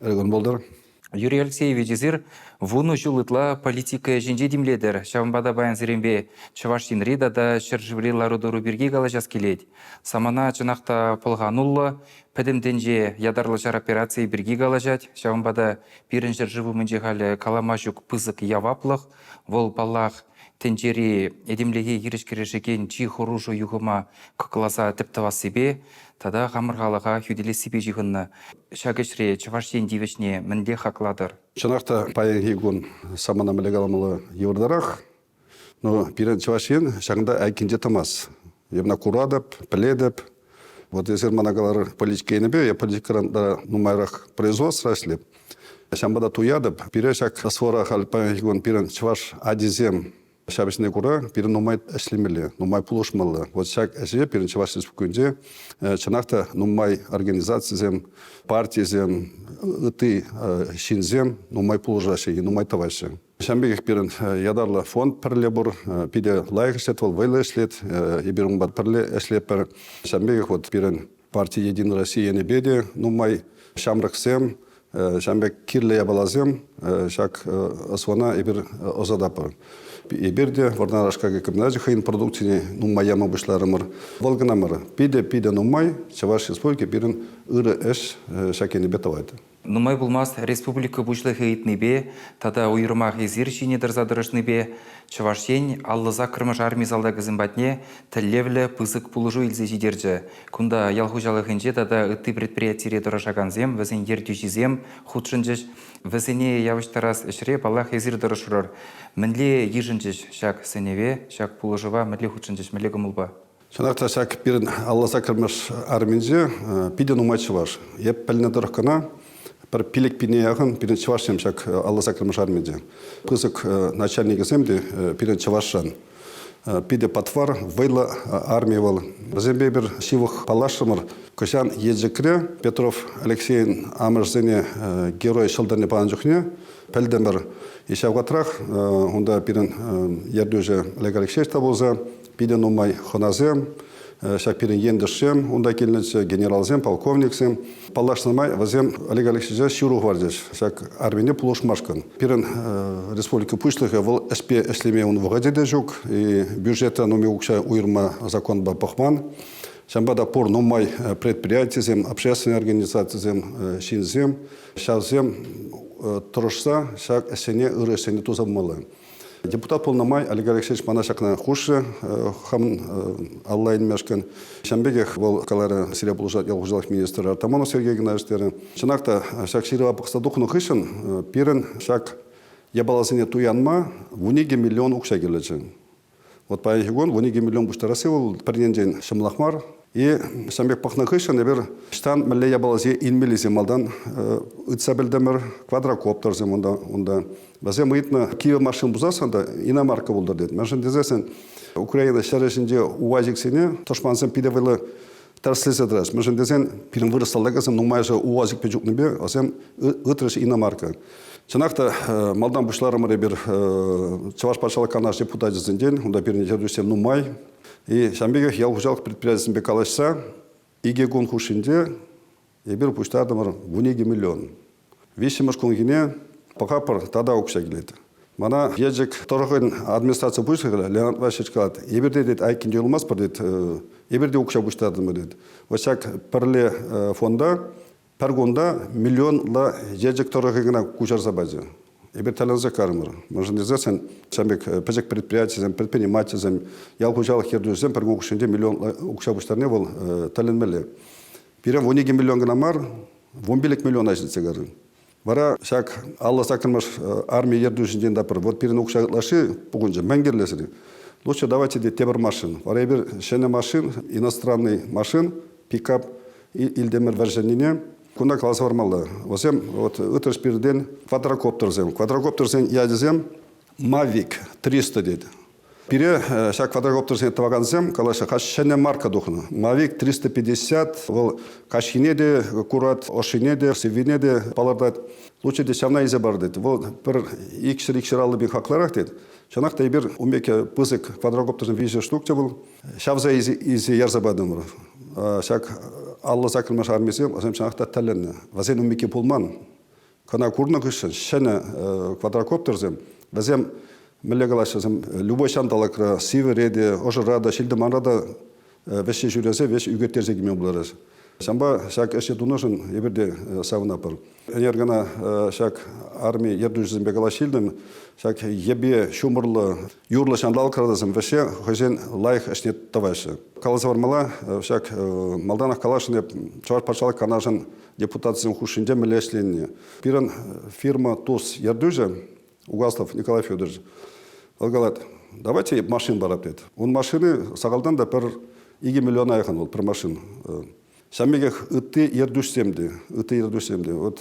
Ыргӑн пултӑр. Юрий Алексеевич, эсир вунӑ ҫул ытла политика ӗҫӗнче тимлетӗр. Ҫавӑнпа та паянсеренпе Чӑваш Енри тата ҫӗршыври лару-тӑру пирки калаҫас килет. Самана чӑнах та пӑлхануллӑ, пӗтӗм тӗнче ятарлӑ ҫар операцийӗ пирки калаҫать. Ҫавӑнпа та пирӗн ҫӗршыв умӗнче халӗ калама ҫук пысӑк яваплӑх. Вӑл, паллах, тӗнчери этемлӗхе хирӗҫ кӗрешекен чи хӑрушӑ юхӑма кӑкласа тӗп тӑвассипе, тата хамӑр халӑха хӳтӗлессипе ҫыхӑннӑ. Ҫак ӗҫре Чӑваш Ен тивӗҫне мӗнле хаклатӑр? Чӑнах та, паянхи кун самана мӗнле каламалла йывӑртарах. Но пирӗн Чӑваш Ен ҫакӑнта айккинче тӑмасть. Я мана куратӑп, пӗлетӗп. Вот эсир мана калар политика енӗпе, я политикӑран та нумайрах производство ӗҫлеп. Ҫавӑнпа та туятӑп. Пире ҫак СВОра халь паянхи кун пирӗн чӑваш атисем Ҫапӑҫне кура пирӗн нумай ӗҫлемелле, нумай пулӑшмалла. Вот ҫак ӗҫе пирӗн Чӑваш Республикинче чӑнах та нумай организацисем, партисем, ытти ҫынсем нумай пулӑшаҫҫӗ, нумай тӑваҫҫӗ. Ҫавӑн пекех пирӗн ятарлӑ фонд пӗрле пур. Питӗ лайӑх ӗҫлет вӑл, вӑйлӑ ӗҫлет. Эпир унпа пӗрле ӗҫлетпӗр. Ҫавӑн пекех вот пирӗн Парти Единая Россия енӗпе те нумай ҫамрӑксем, ҫавӑн пек кирлӗ япаласем ҫак СВОна эпир ӑсататпӑр. Эпир те Вӑрнар аш-какай комбиначӗ хӑйӗн продукцине нумай яма пуҫларӑмӑр. Вӑл кӑна мар, питӗ-питӗ нумай Чӑваш Республики пирӗн ырӑ ӗҫ ҫак енӗпе тӑвать. Нумай пулмасть республика Пуҫлӑхӗ ыйтнипе тата уйрӑмах эсир ҫине тӑрса тӑрӑшнипе Чӑваш Ен аллӑ саккӑрмӗш арми салтакӗсем патне тӗллевлӗ пысӑк пулӑшу илсе ҫитерчӗ. Кунта ял хуҫалӑхӗнче тата ытти предприятире тӑрӑшакансем, вӗсен ертӳҫисем хутшӑнчӗҫ. Вӗсене явӑҫтарас ӗҫре паллах эсир тӑрӑшрӑр. Мӗнле йышӑнчӗҫ ҫак сӗнӗве, ҫак пулӑшӑва, мӗнле хутшӑнчӗҫ, мӗнле кӑмӑлпа? Чӑнах та ҫак пирӗн алла сакӑрмӗш арминче питӗ нумай чӑваш. Эп пӗлнӗ тӑрӑх кӑна пӗр пилӗк пине яхӑн пирӗн чӑвашсем ҫак алла сакӑрмӗш арминче. Пысӑк начальникӗсем те пирӗн чӑвашран. Питӗ патвар, вӑйлӑ армия вӑл. Вӗсемпе эпир ҫывӑх паллашрӑмӑр. Кӑҫан Елчӗкре Петров Алексейӗн амӑшӗсене герой ҫӑлтӑрне панӑ чухне пӗлтӗмӗр. Ҫав вӑхӑтрах унта пирӗн ертӳҫӗ Олег Алексеевич та пулса Питӗ нумай хӑнасем, ҫак пирӗн ентешсем, унта килнӗччӗ, генералсем, полковниксем. Паллашнӑ май вӗсем Олег Алексеевича ҫыру хӑварчӗҫ ҫак армине пулӑшмашкӑн. Пирӗн республика пуҫлӑхӗ вӑл ӗҫпе ӗҫлеме ун вӑхӑчӗ те ҫук, бюджета нумай укҫа уйӑрма законпа пӑхман. Ҫавӑнпа та пур нумай предприятисем, общественный организацисем, ҫынсем, ҫавсем тӑрӑшса ҫак ӗҫсене, ырӑ ӗҫсене туса пымалла. Депутат пулнӑ май Олег Алексеевич мана ҫакна хушрӗ хам алла илмешкӗн. Ҫавӑн пекех вӑл каларӗ, сире пулӑшать ял хуҫалӑх министрӗ Артамонов Сергей Игнатьевич терӗ. Чӑнах та ҫак ҫырӑва пӑхса тухнӑ хыҫҫӑн пирӗн ҫак япаласене туянма вуникӗ миллион укҫа кирлӗччӗ. Вот паянхи кун 12 миллион пуҫтарасси вӑл пӗр енчен ҫӑмӑлах мар. И ҫавӑн пек пӑхнӑ хыҫҫӑн эпир ӑҫтан мӗнле япаласем илмеллисе малтан ыйтса пӗлтӗмӗр. Квадрокоптерсем унта унта. Вӗсем ыйтнӑ кивӗ машина пусассан та иномарка пултӑр тет. Мӗншӗн тесессӗн Украина ҫӗр ӗҫӗнче увазиксене тӑшмансем питӗ вӑйлӑ Тӗрӗслесе тӑрас. Мӗншӗн тесен пирӗн вырӑс ӑсӗсем нумайӑшӗ УАЗик чупнипе чупнипе вӗсем ытрӗҫ иномарка. Чӑнах та малтан пуҫларӑмӑр эпир Чӑваш патшалӑх Канаш депутачӗсенчен. Унта пирӗн ертӳҫӗсем нумай. И ҫавӑн пекех ял хуҫалӑх предприятийӗсемпе калаҫса икӗ кун хушшинче Эпир пуҫтартӑмӑр вун икӗ миллион. Виҫҫӗмӗш кунхине пӑхапӑр тата укҫа килет. Мана Елчӗк тӑрӑхӗн администраци пуҫлӑхӗ Леонид Васильевич калать, эпир те тет, айккинче юлмастпӑр, тет, э, эпир те укҫа пуҫтартӑмӑр, тет. Вот ҫак пӗрле э, фонда пӗр кунта миллионла Елчӗк тӑрӑхӗ кӑна куҫарса пачӗ. Эпир тӗлӗнсе карӑмӑр. Мӑшӑн ирсессӗн ҫав пек э, пӗчӗк предприятисем, предпринимательсем, ял хуҫалӑх ертӳҫисем пӗр кун хушшинче миллион укҫа пуҫтарни вӑл тӗлӗнмелле. Пирӗн вун икӗ миллион кӑна мар, вун пилӗк миллиона ҫитсе кайрӗ. Вара ҫак алла саккӑрмаш армия ертӳҫинчен таппӑр, вот пирӗн укҫа ытлашши пухӑнчӗ, мӗн кирлӗ-ши? Лучше давайте те тепӗр машин. Вара эпир ҫӗнӗ машин, иностранный машин, пикап илтӗмӗр вӗрҫӗннине. Куна каласа хӑвармалла. Вӗсем вот ытлӑш пиртен квадрокоптерсем. Квадрокоптерсен ячӗсем Mavic 300 тет. Пире ҫак квадрокоптерсене тӑвакансем калаҫса каҫ ҫӗнӗ марка тухнӑ. Mavic 350 вӑл каҫхине те курать, ӑшшине те, сиввине те палӑртать. Лучше те ҫавна илсе пар тет. Вӑл пӗр икҫӗр-икҫӗр аллӑ пин хакларах тет. Чӑнах та эпир ун пек пысӑк квадрокоптерсем виҫӗ штук те вӑл. Ҫавса илсе ярса патӑмӑр. Ҫак аллӑ саккӑрмаш армисем вӗсем чӑнах та тӗлӗннӗ. Вӗсен ун пекки пулман. Кӑна курнӑ хыҫҫӑн ҫӗнӗ квадрокоптерсем, вӗсем мӗнле калаҫҫӗ, любой ҫанталӑкра, сивӗре те, ӑшӑра та, ҫил-тӑманра та вӗҫҫе ҫӳресе, вӗҫ ӳкерттерсе кӗме пултарать. Ҫавӑнпа ҫак ӗҫе тунӑшӑн эпир те савӑнатпӑр. Ӗнер кӑна ҫак арми ертӳҫисемпе калаҫ илтӗм. Ҫак йӗпе, ҫумӑрлӑ, юрлӑ ҫанталӑк кӑтартасем вӗҫе хӑйсен лайӑх ӗҫне тӑваҫҫӗ. Каласа хӑвармалла, ҫак малтанах каласшӑн эп Чӑваш патшалӑх канашӗн депутатсем хушшинче мӗнле ӗҫленине. Пирӗн фирма ТУС ертӳҫӗ Угаслов Николай Федорович вӑл калать, давайте машин барать тет. Ун машины сахалтан та пӗр икӗ миллиона яхан вӑл пӗр машин. Ҫавӑн пекех ытти ертӳҫсем те, ытти ертӳҫсем те. Вот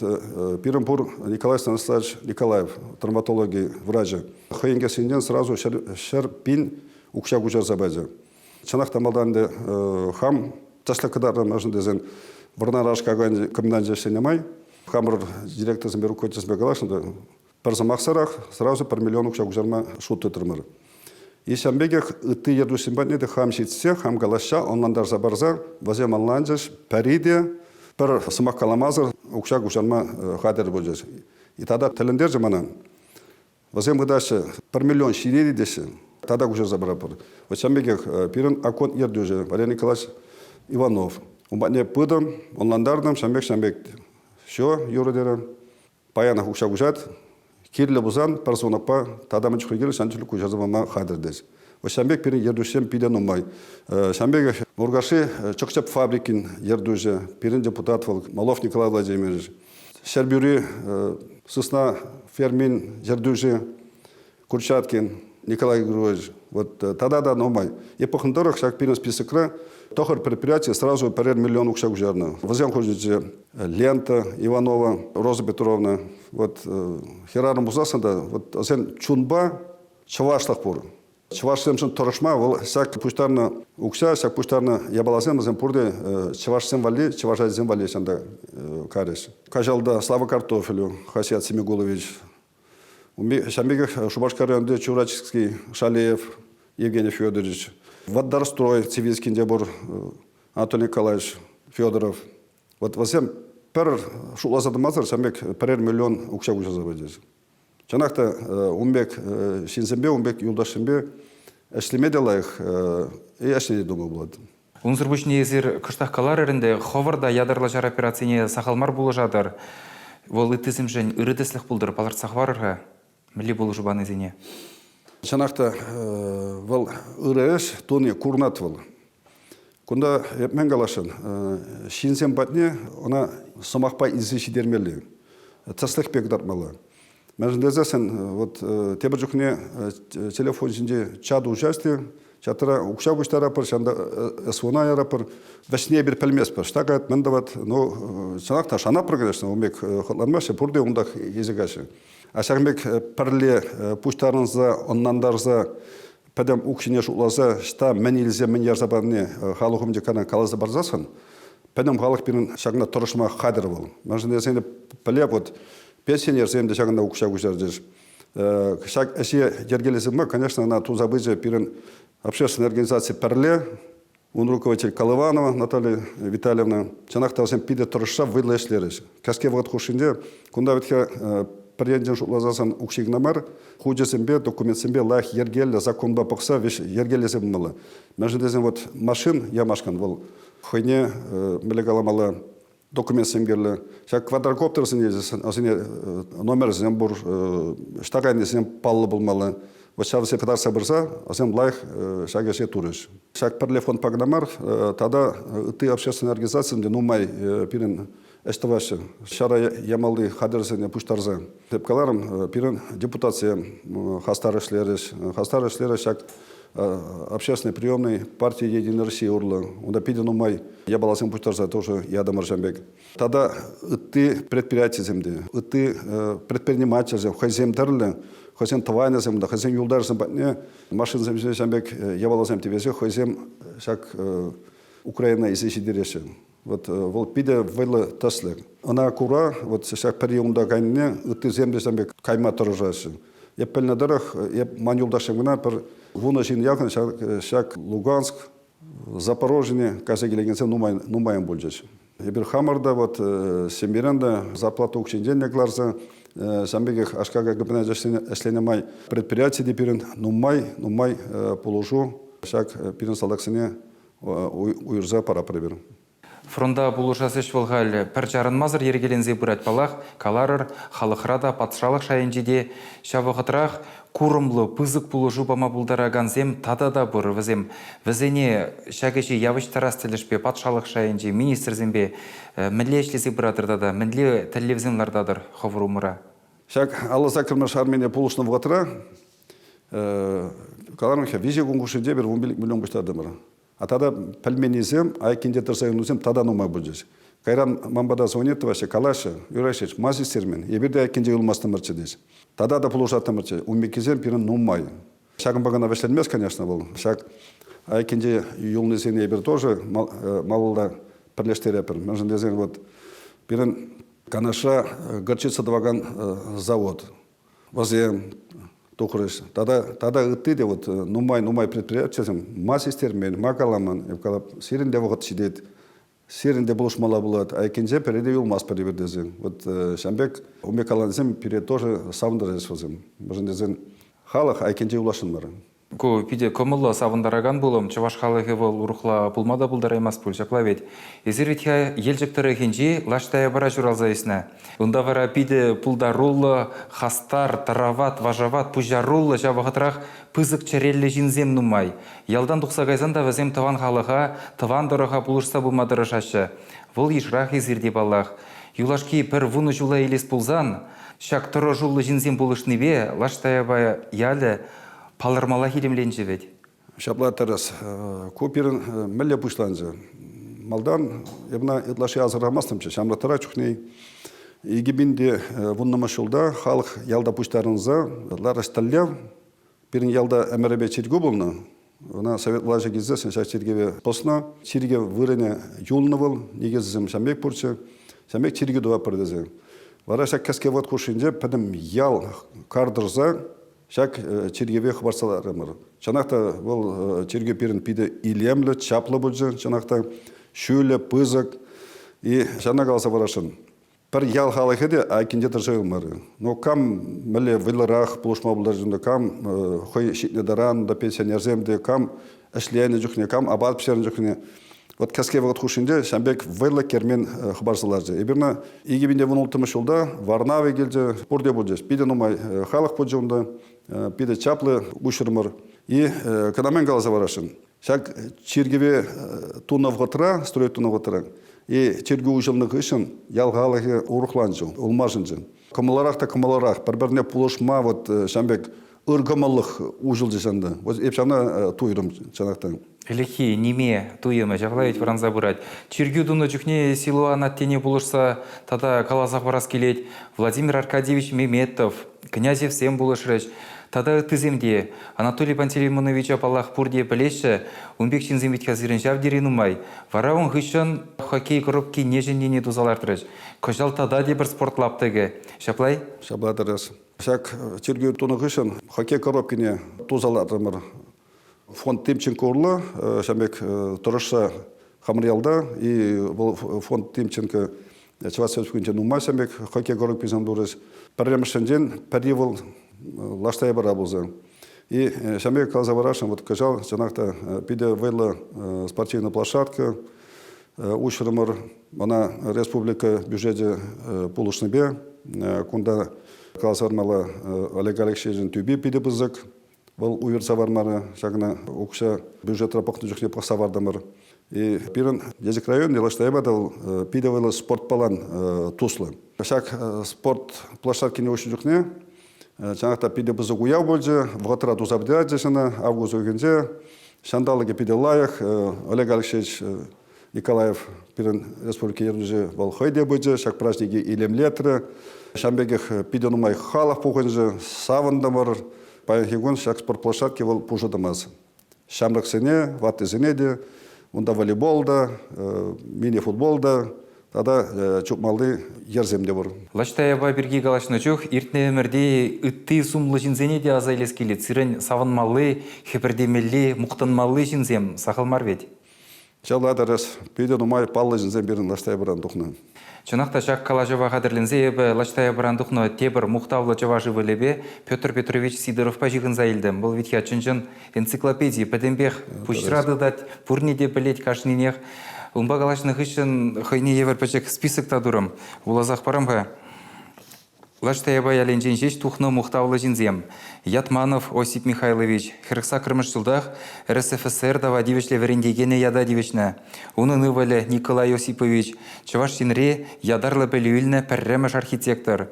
пирӗн пур Николай Станиславович Николаев, травматологи врачӗ. Хӑйӗн кӗсйинчен сразу ҫӗр, ҫӗр пин укҫа куҫарса пачӗ. Чӑнах та малтан ӗнтӗ хам тӗслӗх кӑтартнӑшӑн тесен Вӑрнар аш какайӗн комбиначӗҫсенне май хамӑр директорсемпе руководительсемпе калаҫнӑ та пӗр сӑмахсӑрах сразу пӗр миллион укҫа куҫарма шут тытрӑмӑр. И ҫавӑн пекех ытти ертӳҫӗсем патне те хам ҫитсе, хам калаҫса, ӑнлантарса парса вӗсем ӑнланчӗҫ. Пӗри те пӗр сӑмах каламасӑр укҫа куҫарма хатӗр пулчӗҫ. И тата тӗлӗнтерчӗ мана. Вӗсем пытаҫҫӗ, пӗр миллион ҫине теҫҫӗ. Тата куҫарса паратпӑр. Вот ҫавӑн пекех пирӗн окоп ертӳҫӗ Валерий Николаевич Иванов. Ун патне пытӑм, ӑнлантартӑм, ҫавӑн пек, ҫавӑн пек. Все, юрӑ терӗ. Паянах укҫа куҫать. Кирлӗ пулсан пӗр сунакпа тата мӗн чухлӗ кирлӗ ҫавӑн чухлӗ куҫарса пама хатӗр тет. Вот ҫавӑн пек пирӗн ертӳҫсем питӗ нумай. Ҫавӑн пекех Муркашри Чӑкчӑп фабрикин ертӳҫӗ, пирӗн депутат вӑл Малов Николай Владимирович. Ҫӗрпӳри сысна фермин ертӳҫи Курчаткин Николай Григорьевич вот тата та нумай. И пӑхнӑ тӑрӑх ҫак пирӗн списокра тӑхӑр предприятие сразу пӗрер миллион укҫа куҫарнӑ. Вӗсем хушӑнчӗ Лента Иванова, Роза Петровна. Вот хӗрарӑм пулсассӑн та вот сен чунпа чӑвашлӑх пур. Чӑвашсемшӗн тӑрӑшма вӑл ҫак пуҫтарнӑ укҫа, ҫак пуҫтарнӑ япаласем вӗсем пурте чӑвашсем валли, чӑваш ачисем валли ҫанта карӗҫ. Каҫалта Слава Картофелю, Хасият Семигулович, ҫавӑн пекех Шупашкар районӗнче Чурачский, Шалеев, Евгений Федорович, Водорстрой Цивильскинде пур Анатолий Николаевич Федоров. Вот вӗсем пӗр шутласа тӑмасӑр ҫавӑн пек пӗрер миллион укҫа куҫарса пычӗҫ. Чӑнах та ун пек ҫынсемпе, ун пек юлташсемпе ӗҫлеме те лайӑх ӗҫлеме те думал пулать. Унсӑр пуҫне эсир кӑштах каларӑр ӗнтӗ, хӑвӑр та ятарлӑ ҫар операцине сахал мар пулӑшатӑр. Вӑл ыттисемшӗн ырӑ тӗслӗх пултӑр, палӑртса хӑварӑр-ха мӗнле пулӑшу панисене. Чӑнах та вӑл ырӑ ӗҫ туни курӑнать вӑл. Кунта мӗн каласшӑн, ҫынсем патне ӑна сӑмахпа илсе ҫитермелле, тӗслӗхпе кӑтартмалла. Мӗншӗн тесессӗн вот тепӗр чухне телефон ҫинче чат участие чатра укҫа куҫтаратпӑр, ҫавӑнта СВОна яратпӑр, вӗҫне эпир пӗлместпӗр, что говорит, мӗн тӑвать, ну, чӑнах та шанатпӑр, конечно, ун пек хӑтланмаҫҫӗ, пурте унтах йӗсӗ каҫӗ. А ҫакӑн пек пӗрле пуҫтарӑнса, ӑнлантарса пӗтӗм укҫине шутласа ӑҫта мӗн илсе мӗн ярса парни э, халӑх умӗнче кана каласа парсассӑн пӗтӗм халӑх пирӗн ҫакна тӑрӑшма хатӗр вӑл. Мӗншӗн тесен пӗлеп вот пенсионерсем те ҫакӑнта укҫа куҫарчӗҫ. Э, ҫак ӗҫе йӗркелесе пыма, конечно, ӑна туса пычӗ пирӗн общественная организаци пӗрле. Ун руководитель Колыванова Наталья Витальевна, чӑнах та вӗсем питӗ тӑрӑшса вӑйлӑ ӗҫлерӗҫ. Кӗске вӑхӑт хушшинче кунта вӗтхе пӗр енчен шутласасан укҫи кӑна мар, хучӗсемпе, документсемпе лайӑх йӗркеллӗ законпа пӑхса вӗҫ йӗркелесе пымалла. Мӗншӗн тесен вот машин ямашкӑн вӑл хӑйне мӗнле каламалла документсем кирлӗ. Ҫак квадрокоптерсене вӗсене номерсем пур, штакайнисем паллӑ пулмалла. Вот ҫав вӗсем кӑтартса пырса вӗсем лайӑх ҫак ӗҫе турӗҫ. Ҫак пӗрле фондпа кӑна мар, тата ытти общественные организацисем те нумай пирӗн ӗҫ тӑваҫҫӗ. Ҫара ямалли хатӗрсене пуҫтарса. Эп каларӑм, пирӗн депутатсем хастар ӗҫлерӗҫ. Хастар ӗҫлерӗҫ ҫак общественный приемный парти единый россия урлӑ унта питӗ нумай япаласем пуҫтарса тоже ятӑмӑр ҫан пек тата ытти предприятисем те ытти предпринимательсем хӑйсем тӗрлӗ хӑйсен тӑванӗсем та хӑйсен юлташӗсем патне машинсем ҫине ҫан пек япаласем тивесе хӑйсем ҫак Украина илсе ҫитереҫҫӗ Вот э, вӑл питӗ вӑйлӑ тӗслӗк. Ӑна кура вот ҫак пӗр юлунта кайнине ыттисем те сан пек кайма тӑрӑшаҫҫӗ. Эп пӗлнӗ тӑрӑх, эп ман юлташым кӑна пӗр вунӑ ҫын яхӑн ҫак, ҫак Луганск, Запорожье кайса килекенсем нумай, нумайӑн пулчӗҫ. Эпир хамӑр та вот э, семьерен те зарплата укҫинчен те кӑларса э, ҫан пекех аш-какай капиталне ӗҫленӗ май предприяти те пирӗн нумай-нумай пулӑшу ҫак пирӗн салтаксене уйӑрса пара пӗр-пӗр. Фронта пулӑшас ӗҫ вӑл халь пӗр чарӑнмасӑр йӗркеленсе пырать паллах. Каларӑр, халӑхра та, патшалӑх шайӗнче те ҫав вӑхӑтрах курӑмлӑ, пысӑк пулӑшу пама пултаракансем тата та пур. Вӗсем вӗсене ҫак ӗҫе явӑҫтарас тӗлӗшпе патшалӑх шайӗнчи министрсемпе мӗнле ӗҫлесе пыратӑр тата мӗнле тӗллевсем лартатӑр хӑвӑр умӑра? Ҫак алӑ саккӑрмӗш армине пулӑшнӑ вӑхӑтра Каларӑм ҫав, виҫе конкурсӗнче пӗр вун миллион пуҫтартӑмӑр. А тата пӗлменнисем, айккинче тӑрса юлнисем тата нумай пулчӗҫ. Кайран ман пата звонит тӑваҫҫӗ, калаҫҫӗ, Юрасич, ма систермен, эпир те айккинче юлмастӑмӑрччӗ тет. Тата та пулӑшаттӑмӑрччӗ, уммиккисем пирӗн нумай. Ҫакӑнпа кӑна вӗҫленмест, конечно, вӑл. Ҫак айккинче юлнисене эпир тоже малалла пӗрлештерепӗр. Мӗншӗн тесен вот пирӗн Канашра горчица тӑвакан завод. вӑсем тухрӗҫ. Тата, тата ытти те вот нумай-нумай предприятисем ма систермен, ма каламан. Сирӗн те вӑхӑт ҫитет, сирӗн те пулӑшмалла пулать, айккинче пӗри те юлмасть пӗр-пӗр тесен. Вот ҫам пек умекалансем пире тоже савӑнтарчӗҫ вӗсем. Мӗшӗн тесен халӑх айккинче юласшӑн мар. Ку питӗ кӑмӑллӑ, савӑнтаракан пулӑм. Чӑваш халӑхӗ вӑл урӑхла пулма та пултараймасть пуль, ҫапла вӗт. Эсир вӗт-ха Елчӗк тӑрӑхӗнчи Лаш Таяпара ҫуралса ӳснӗ. Унта вара питӗ пултаруллӑ, хастар, тарават, вашават, пуҫаруллӑ, ҫав вӑхӑтрах пысӑк чӗреллӗ ҫынсем нумай. Ялтан тухса кайсан та вӗсем тӑван халӑха, тӑван тӑрӑха пулӑшса пыма тӑрӑшаҫҫӗ. Вӑл йышрах эсир те, паллах. Юлашки пӗр вунӑ ҫула илес пулсан, ҫак тӑрӑшуллӑ ҫынсем пулӑшнипе Лаш Таяпа ялӗ Палӑрмаллах илемленчӗ вӗт. Ҫапла тӑрӑс. Ку пирӗн мӗнле пуҫланчӗ? Малтан эпна ытлашши асӑрхамастӑмччӗ. Ҫамрӑктра чухне икӗ пин те вуннӑмӗш ҫулта халӑх ялта пуҫтарӑнса ларӑҫ тӗллев пирӗн ялта ӗмӗрӗпе чиркӳ пулнӑ. Ӑна совет влаҫӗ килсе ҫак чиркӗве пӑснӑ. Чиркӗ вырӑнӗ юлнӑ вӑл, никӗсӗсем ҫам пек пурччӗ, ҫам пек чиркӳ тӑватпӑр тесе. Вара ҫак кӗске вӑт хушшинче пӗтӗм ял кар тӑрса Ҫак чиркӗве хӑпартса ларрӑмӑр. Чӑнах та вӑл чиркӳ пирӗн питӗ илемлӗ, чаплӑ пулчӗ. Чӑнах та ҫӳлӗ, пысӑк. И ҫавна каласа парасшӑн. Пӗр ял халӑхӗ те айккинче тӑрса юлмарӗ. Ну кам мӗнле вӑйлӑрах пулӑшма пултарать кам хӑй ҫитнӗ таран та пенсионерсем те кам ӗҫленӗ чухне, кам апат пӗҫернӗ чухне, вот кӗске вӑхӑт хушшинче ҫавӑн пек вӑйлӑ кермен э, хӑпарса ларчӗ. Эпир ӑна икӗ пин вун улттӑмӗш ҫулта Варнавы килчӗ, пурте пулчӗ. Питӗ нумай э, халӑх пулчӗ унта, э, питӗ чаплӑ уҫырмӑр. И кӑна мӗн каласа парасшӑн, ҫак чиркӗве тунӑ вӑхӑтра, строить тунӑ вӑхӑтра, и чиркӳ уҫӑлнӑ хыҫҫӑн ял халӑхӗ урӑхланчӗ, улмашӑнчӗ. Кӑмӑлларах та кӑмӑлларах, пӗр-пӗрне пулӑшма вот ҫавӑн пек ыркӑмӑллӑх уҫӑлчӗ ҫанта. Вот эп ҫавна туйрӑм чӑнах та. Ӗлӗкхи ниме туйӑмӗ ҫапла вӗт вӑранса пырать. Чиркӳ тунӑ чухне Силуан аттене пулӑшса тата каласа хӑварас килет. Владимир Аркадьевич Меметов, Князевсем пулӑшрӗҫ. Тата ыттисем те. Анатолий Пантелеймоновича паллах пурте пӗлеҫҫӗ. Ун пек ҫынсем витхя сирӗн ҫав тери нумай. Вара ун хыҫҫӑн хоккей коробкине ҫӗннине туса лартрӗҫ. Кӑҫал тата те пӗр спорт лаптӑкӗ. Ҫапла-и? Ҫапла тӑрас. Ҫак чиркӳ тунӑ хыҫҫӑн хоккей коробкине туса лартӑмӑр. Фонд Тимченко урлӑ ҫав пек тӑрӑшса Хамӑръялта и вӑл фонд Тимченко Чӑваш Республикинче нумай ҫав пек хоккей коробкисем турӗҫ. Пӗрремӗшсенчен пӗри вӑл Лаштайбара пулса. И ҫав пек каласа парасшӑн, вот кӑҫал чӑнах та питӗ вӑйлӑ спортивная площадка, Уҫрӑмӑр ӑна республика бюджечӗ пулӑшнипе. Кунта каласа Олег Алексеевичӑн тӳпи питӗ пысӑк. Вӑл уйӑрса вармарӗ, ҫакна укҫа бюджетра пӑхнӑ чухне пӑхса вартӑмӑр. И пирӗн Елчӗк район влаҫтаева та вӑл питӗ вӑйлӑ спортпалан туслӑ. Ҫак спорт площадкине уҫнӑ чухне Чанах та питӗ пысӑк уяв пулчӗ. Вӑхӑтра туса пӗтеретчӗҫ ӑна август уйӑхӗнче. Ҫанталӑкӗ питӗ лайӑх. Олег Алексеевич Николаев пирӗн республика ертӳҫи вӑл хӑй те пычӗ. Ҫак праҫнике илемлетрӗ. Ҫавӑн пекех питӗ нумай халӑх пухӑнчӗ. Савӑнтӑмӑр. Паянхи кун ҫак спортплощадке вӑл пушӑ тӑмасть. ҫамрӑксене, ваттисене те, унта волейбол та, мини-футбол та тата чупмалли йӗрсем те пур. Лачтаева пирки калаҫнӑ чух иртнӗ ӗмӗрте ытти сумлӑ ҫынсене те аса илес килет. Сирӗн савӑнмалли, хӗпӗртемелли, мухтанмалли ҫынсем сахал мар вӗт. Чылай тӑрас питӗ нумай паллӑ ҫынсем пирӗн Лаштайпӑран тухнӑ. Чӑнах та ҫак калаҫӑва хатӗрленсе эпӗ Лаштайпӑран тухнӑ тепӗр мухтавлӑ чӑваш ывӑлӗпе Петр Петрович Сидоровпа ҫыхӑнса илтӗм. Вӑл витька чӑн-чӑн энциклопеди, пӗтӗмпех пуҫра тытать, пурне те пӗлет кашнинех. Унпа калаҫнӑ хыҫҫӑн хӑйне евӗр пӗчӗк список та турӑм. Вуласах парам-ха. Лаш Таяпа ялӗнчен ҫеҫ тухнӑ мухтавлӑ ҫынсем. Ятманов Осип Михайлович хӗрӗхсаккӑрмӗш ҫултах РСФСР тава тивӗҫлӗ вӗрентекенӗ ята тивӗҫнӗ. Унӑн ывӑлӗ Николай Осипович Чӑваш Енре ятарлӑ пӗлӳ илнӗ пӗрремӗш архитектор.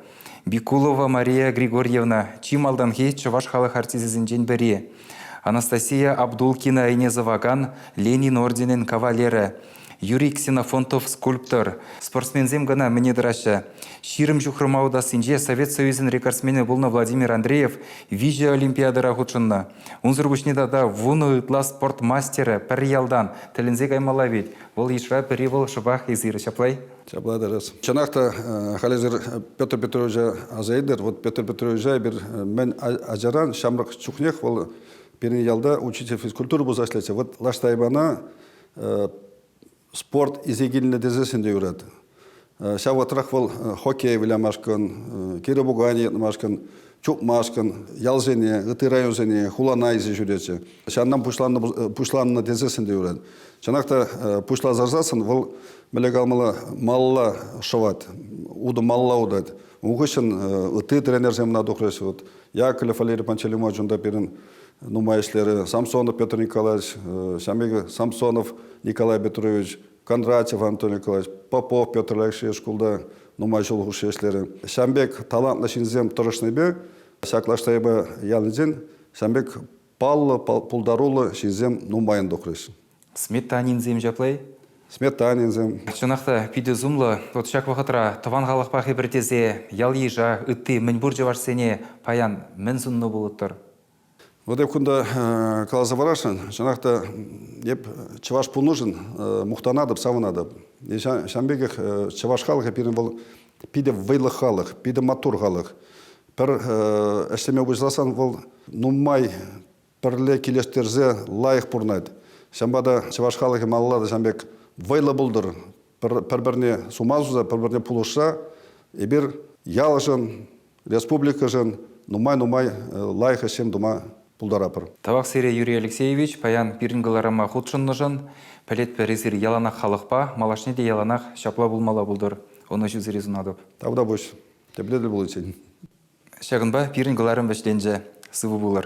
Бикулова Мария Григорьевна чи малтанхи чӑваш халӑх артисчӗсенчен пӗри. Анастасия Абдулкина айне сӑвакан Ленин орденӗн кавалерӗ. Юрий Ксенофонтов скульптор. Спортсменсем кӑна мӗне тӑраҫҫӗ. Ҫирӗм ҫухрӑма утассинче Совет Союзӗн рекордсменӗ пулнӑ Владимир Андреев виҫӗ олимпиадӑра хутшӑннӑ. Унсӑр пуҫне тата вунӑ ытла спорт мастерӗ пӗр ялтан тӗлӗнсе каймалла вӗт. Вӑл йышра пӗри вӑл шӑпах эсир, ҫаплай? Ҫапла тӑрас. Чӑнах та халӗсӗр Петр Петровича аса илтер. Вот Петр Петровича эпир мӗн ачаран ҫамрӑк чухнех вӑл пирӗн ялта учитель физкультура пулса ӗҫлетчӗ. Вот лаш Тайбана спорт исе килнӗ тесессӗн те юрать. Ҫав вӑхӑтрах вӑл хоккей вылямашкӑн, кире пуканӗ йӑтмашкӑн, чупмашкӑн ялсене, ытти районсене, хулана исе ҫӳретчӗ. Ҫавна пуҫланнӑ, пуҫланнӑ тесессӗн те юрать. Чӑнах та пуҫласа вӑл мӗле калмалла малла шӑвать, утӑ малла утать. Ун хыҫҫӑн ытти тренерсем ӑна тухрӗҫ. Вот Яковлев Валерий Пантелеймович унта пирӗн нумай ӗҫлерӗ. Самсонов Петр Николаевич, ҫавӑн пек Самсонов Николай Петрович, Кондратьев Антон Николаевич, Попов Петр Алексеевич шкулта нумай ҫул хушши ӗҫлерӗ. Ҫавӑн пек талантлӑ ҫынсем тӑрӑшнипе ҫак лаштайпа ялӗнчен ҫавӑн пек паллӑ, пултаруллӑ ҫынсем нумайӑн тухрӗҫ. Сметанинсем ҫапла-и? Сметанинсем. Чӑнах та питӗ сумлӑ. Вот ҫак вӑхӑтра тӑван халӑхпа хӗпӗртесе ял-йыша, ытти мӗнпур чӑвашсене паян мӗн суннӑ пулӑттӑр? Вот эп кунта э, каласа парасшӑн, чӑнах та эп чӑваш пулнӑшӑн э, мухтанатӑп, савӑнатӑп. Э, ҫавӑн пекех чӑваш халӑхӗ пирӗн вӑл питӗ вӑйлӑ халӑх, питӗ маттур халӑх. Пӗр ӗҫлеме пуҫласан вӑл нумай пӗрле килӗштерсе лайӑх пурӑнать. Ҫавӑнпа та чӑваш халӑхӗ малалла та ҫавӑн пек вӑйлӑ пултӑр, пӗр-пӗрне сума суса, пӗр-пӗрне пулӑшса эпир ялшӑн, республикӑшӑн нумай-нумай лайӑх ӗҫсем тума пултаратпӑр. Тавах сире, Юрий Алексеевич, паян пирӗн кӑларӑма хутшӑннӑшӑн. Пӗлетпӗр, эсир яланах халӑхпа, малашне те яланах ҫапла пулмалла пултӑр, ӑнӑҫусӑри сунатӑп. Тавтапуҫ, тепле тӗл пуличчен. Ҫакӑнпа пирӗн кӑларӑм вӗҫленчӗ. Сывӑ пулӑр.